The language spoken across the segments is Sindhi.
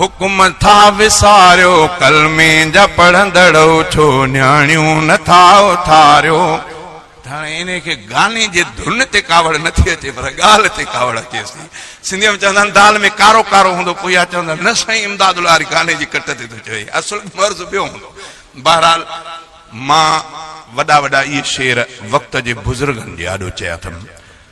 حڪم ٿا وساريو ڪلمي جا پڙهندڙ اٿو نياڻيون نه ٿا اٿاريو ته هاڻي انهي کي گاني جي ڌن تي ڪاوڙ نه ٿي اچي پر ڳالهه تي ڪاوڙ اچيس ٿي سنڌي ۾ چوندا آهن دال ۾ ڪارو ڪارو هوندو پوء اها چوندا نه سائين امداد العاري گاني جي ڪٽ تي ٿو چوي اصل مرض ٻيو هوندو بهرحال مان وڏا وڏا اهي شعر وقت جي بزرگن جي آڏو چيا اٿم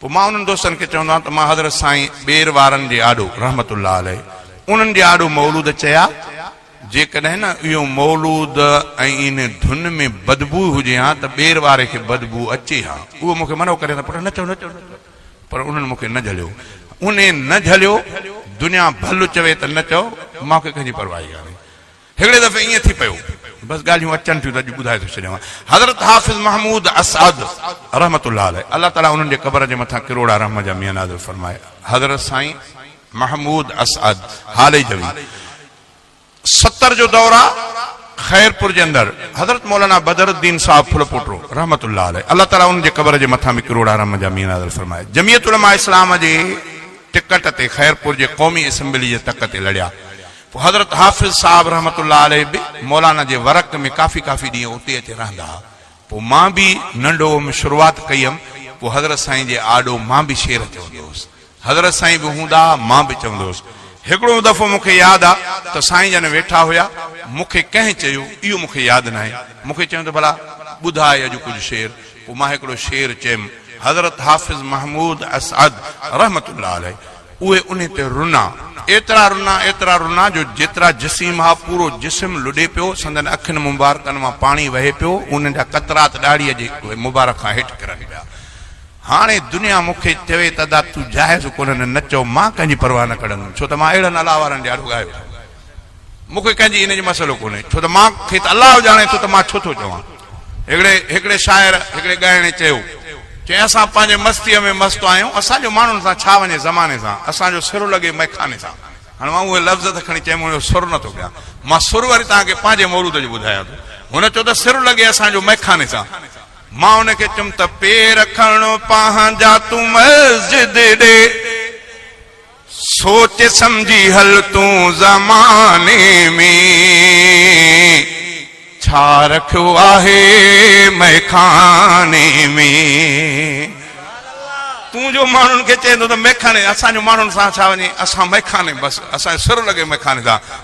پوء مان انهن دوستن کي چوندو آهيان ته مان حضرت سائين ٻير وارن جي آڏو رحمت الله عليه انهن جي آڏو مولود چيا، جيڪڏهن نه اهو مولود ۽ انهي ڌن ۾ بدبوء هجي ها ته ٻير واري کي بدبوء اچي ها. اهو مون کي منع ڪري ته پٽ نه چئو نه چئو نه چئو پر انهن مون کي نه جهليو. انهي نه جهليو. دنيا ڀل چوي ته نه چئو مانکي ڪنهن جي پرواهي ڪانهي. هڪڙي دفعي ائين ٿي پيو، بس ڳالهيون اچن ٿيون ته اڄ ٻڌائي ٿو ڇڏيان، حضرت حافظ محمود اسعد رحمة الله عليه الله تعاليٰ انهن جي قبر جي مٿان ڪروڙا رحم جا مينهن نازل فرمائي حضرت سائين محمود اسعد هاليجوي ستر جو دور آ خيرپور جي اندر حضرت مولانا بدر الدين صاحب ڦلپوٽڙو رحمة الله عليه الله تعاليٰ انهن جي قبر جي مٿان به ڪروڙا رحم جا مينهن نازل فرمائي جميعت علماء اسلام جي ٽڪٽ تي خيرپور جي قومي اسمبلي جي تڪ تي لڙيا حضرت حافظ صاحب رحمة الله عليه به مولانا جي ورق ۾ ڪافي ڪافي ڏينهن اتي اچي رهندا ها. پوء مان به ننڍ هئم، شروعات ڪئي هيم، پوء حضرت سائين جي آڏو مان به شعر چوندو هوس. حضرت سائين به هوندا ها، مان به چوندو هوس. هڪڙو دفعو مون کي ياد آ ته سائين جن ويٺا هيا، مون کي ڪنهن چيو، اهو مون کي ياد ناهي، مون کي چيائون ته ڀلا ٻڌاء اڄ ڪجهه شعر، پوء مان هڪڙو شعر چيم، حضرت حافظ محمود اسعد رحمة الله عليه. اهي انهي تي رنا، ايترا رنا، ايترا رنا جو جيترا جسيم ها، پورو جسم لڏي پيو، سندن اکين مبارڪن مان پاڻي وهي پيو، انهن جا قطرات ڏاڙهيء جي مبارڪ کان هيٺ ڪرن پيا. هاڻي دنيا مون کي چوي ته ادا تون جاهز ڪونهين نه چئو، مان ڪنهن جي پرواهه نه ڪڙندم، ڇو ته مان اهڙن الله وارن جي آڏو ڳايو ٿو. مون کي ڪنهن جي ان جو مسئلو ڪونهي، ڇو ته مان کي ته الله ڄاڻي ٿو ته مان ڇو ٿو چوان. هڪڙي هڪڙي شاعر، هڪڙي ڳائڻي چيو، چيائين اسان پنهنجي مستيء ۾ مست آهيون، اسان جو ماڻهن سان ڇا وڃي زماني سان، اسان جو سر لڳي مئخاني سان. هاڻ مان اهي لفظ ته کڻي چيم هن جو سر نه ٿو ڪيان. مان سر وري توهان کي پنهنجي مورود جو ٻڌايان ٿو. هن چيو ته سر لڳي اسان جو مئخاني سان. مان هن کي چيم ته پير کڻ پنهنجا تون مسجد ڏي. سوچ سمجهي هل تون زماني ۾، ڇا رکيو آهي مئخاني ۾. تون جو ماڻهن کي چئين ٿو ته مئخاني اسان جو ماڻهن سان ڇا وڃي اسان مئخاني بس اسان جو سر لڳي مئخاني سان.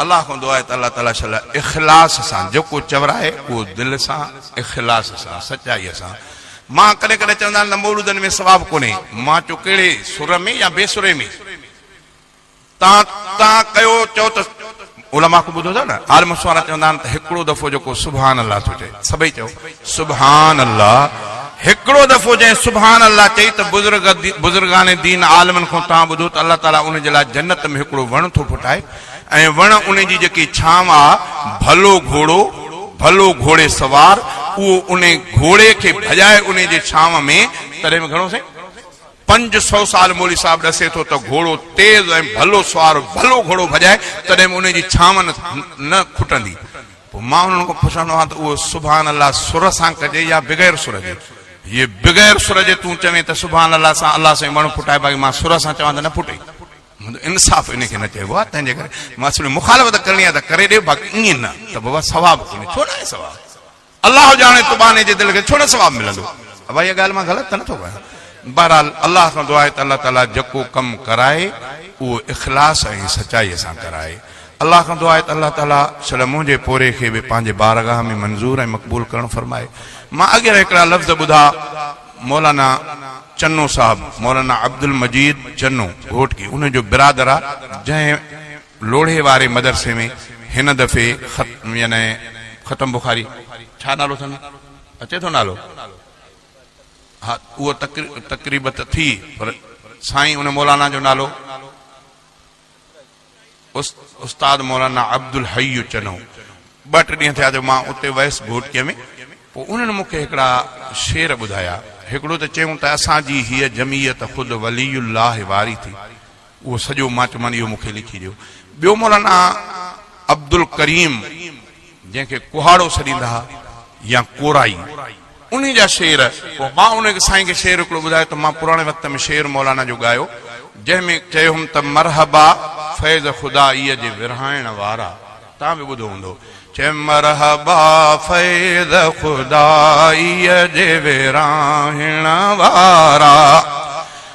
الله کان دعا آهي ته الله تعاليٰ شل اخلاص سان جيڪو چورائي اهو دل سان اخلاص سان سچائي سان مان ڪڏهن ڪڏهن چوندا آهن ته مولودن ۾ ثواب ڪونهي مان چيو ڪهڙي سر ۾ يا بي سري ۾ تان تان ڪيو چئو ته علماء کان ٻڌو اٿو نه عالم سوارا چوندا آهن ته هڪڙو دفعو جيڪو سبحان الله ٿو چئي سڀئي چئو سبحان الله هڪڙو دفعو جنهن سبحان الله چئي ته بزرگ بزرگان دين عالمن کان تان ٻڌو ته الله تعاليٰ ان جي لاء جنت ۾ هڪڙو وڻ ٿو ڦٽائي ۽ وڻ ان جي جيڪي ڇانو آ، ڀلو گهوڙو، ڀلو گهوڙي سوار، اهو ان گهوڙي کي ڀڄائي ان جي ڇانو ۾، تڏهن به گهڻو سائين؟ پنج سؤ سال مولوي صاحب ڏسي ٿو ته گهوڙو تيز ۽ ڀلو سوار ڀلو گهوڙو ڀڄائي، تڏهن به ان جي ڇانو نه کٽندي. پوء مان انهن کان پڇندو آهيان ته اهو سبحان الله سر سان ڪجي يا بغير سر جي؟ جي بغير سر جي تون چوين ته سبحان الله سان الله سائين وڻ ڦٽائي باقي مان سر سان چوان ته نه ڦٽي. منهنجو انصاف انهي کي نه چئبو آهي تنهنجي ڪري مان سمجهيو مخالفت ڪرڻي آهي ته ڪري ڏي باقي ائين نه ته بابا ثواب ڪونهي ڇو ناهي ثواب الله ڄاڻي تو ٻانهي جي دل کي ڇو نه ثواب ملندو ابا اها ڳالهه مان غلط ته نٿو ڪيان بهرحال الله کان دعا آهي ته الله تعالي جيڪو ڪم ڪرائي اهو اخلاص ۽ سچائي سان ڪرائي الله کان دعا آهي ته الله تعالي سڙي منهنجي پوري کي به پنهنجي بارگاهه ۾ منظور ۽ مقبول ڪرڻ فرمائي مان اڳي هڪڙا لفظ ٻڌا مولانا چنو صاحب، مولانا عبدالمجيد چنو گهوٽڪي ان جو برادر آ جنهن لوڙهي واري مدرسي ۾ هن دفعي خت يعني ختم بخاري ڇا نالو اٿن اچي ٿو نالو ها اهو تقريب ته ٿي پر سائين ان مولانا جو نالو استاد مولانا عبدالحئي چنو، ٻه ٽه ڏينهن ٿيا جو مان اتي ويس گهوٽڪي ۾، پوء انهن مون کي هڪڙا شعر ٻڌايا، هڪڙو ته چيائون ته اسان جي هيء جمعيت خود ولي الله واري ٿي، اهو سڄو مان چيومان اهو مون کي لکي ڏيو، ٻيو مولانا عبدالڪريم جنهن کي ڪهاڙو سڏيندا ها يا ڪورائي انهي جا شعر پوء مان ان سائين کي شعر هڪڙو ٻڌايو ته مان پراڻي وقت ۾ شعر مولانا جو ڳايو جنهن ۾ چيو هيم ته مرحبا فيض خدا اي جي ورهائڻ وارا توهان به ٻڌو هوندو چيم مرحبا فيض خدا اي جي ورهائڻ وارا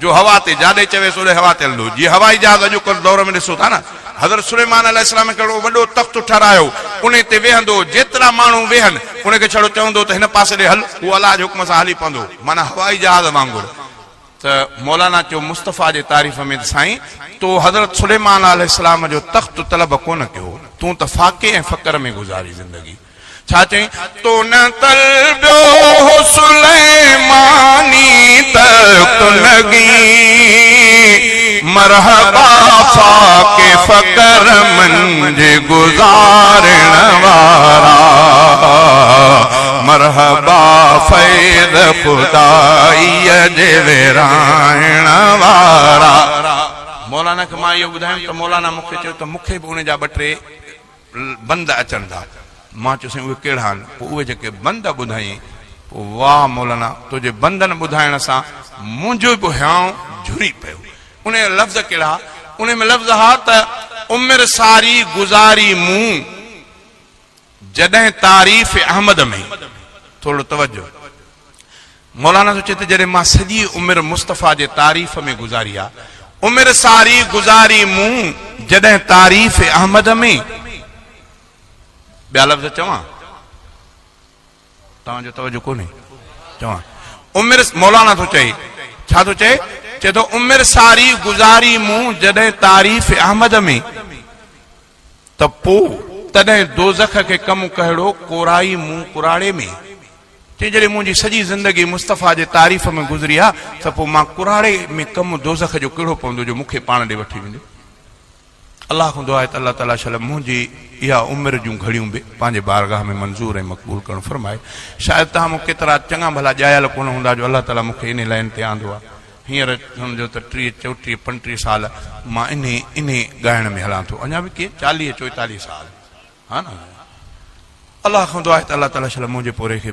جو هوا تي جاڏي چويس اوڏي هوا تي هلندو جيئن هوائي جهاز اڄوڪل دور ۾ ڏسو ٿا نه حضرت سليمان عليه السلام ڪهڙو وڏو تخت ٺهرايو انهي تي ويهندو جيترا ماڻهو ويهن انهي کي ڇڙو چوندو ته هن پاسي ڏي هل هو الله جي حڪم سان هلي پوندو معنيٰ هوائي جهاز وانگر ته مولانا چيو مصطفيٰ جي تعريف ۾ ته سائين تو حضرت سليمان عليه السلام جو تخت طلب ڪونه ڪيو تون ته فاقي ۽ فقر ۾ گذاري زندگي. ڇا چئين تو نه طلبيو هو سليماني تخت لڳي مرحبا فاقي فقر منجهه گذارڻ وارا مرحبا فيض خدائي جي ورهائڻ وارا مولانا کي مان اهو ٻڌايم ته مولانا مون کي چيو ته مون کي به ان جا ٻه ٽي بند اچن ٿا. مان چيو سائين اهي ڪهڙا آهن؟ پوء اهي جيڪي بند ٻڌائين. پوء واه مولانا تنهنجي بندن ٻڌائڻ سان منهنجو به هيانء جهري پيو. انهيء جا لفظ ڪهڙا؟ انهيء ۾ لفظ ها ته عمر ساري گذاري مون جڏهن تعريف احمد ۾ ٿورڙو توجه. مولانا ٿو چئي ته جڏهن مان سڄي عمر مصطفيٰ جي تعريف ۾ گذاري آ، عمر ساري گذاري مون جڏهن تعريف احمد ۾، ٻيا لفظ چوان؟ توهان جو توجه ڪونهي، چوان. عمر مولانا ٿو چئي، ڇا ٿو چئي؟ چئي ٿو عمر ساري گذاري مون جڏهن تعريف احمد ۾. ته پوء تڏهن دوزخ کي ڪم ڪهڙو ڪورائي مون ڪراڙي ۾، چئي جڏهن منهنجي سڄي زندگي مصطفيٰ جي تعريف ۾ گذري ها ته پوء مان ڪراڙي ۾ ڪم دوزخ جو ڪهڙو پوندو جو مون کي پاڻ ڏي وٺي ويندو. الله کان دعا آهي ته الله تعاليٰ شل منهنجي اها عمر جون گهڙيون به پنهنجي بارگاهه ۾ منظور ۽ مقبول ڪرڻ فرمائي. شايد توهان مان ڪيترا چڱا ڀلا ڄايل ڪونه هوندا جو الله تعاليٰ مون کي انهي لائن تي آندو آهي. هينئر سمجهو ته ٽيهه چوٽيهه پنجٽيهه سال مان انهي انهي ڳائڻ ۾ هلان ٿو اڃا به ڪي چاليهه چوئيتاليهه سال ها نه الله کان دعا آهي ته الله تعاليٰ شل منهنجي پورهئي کي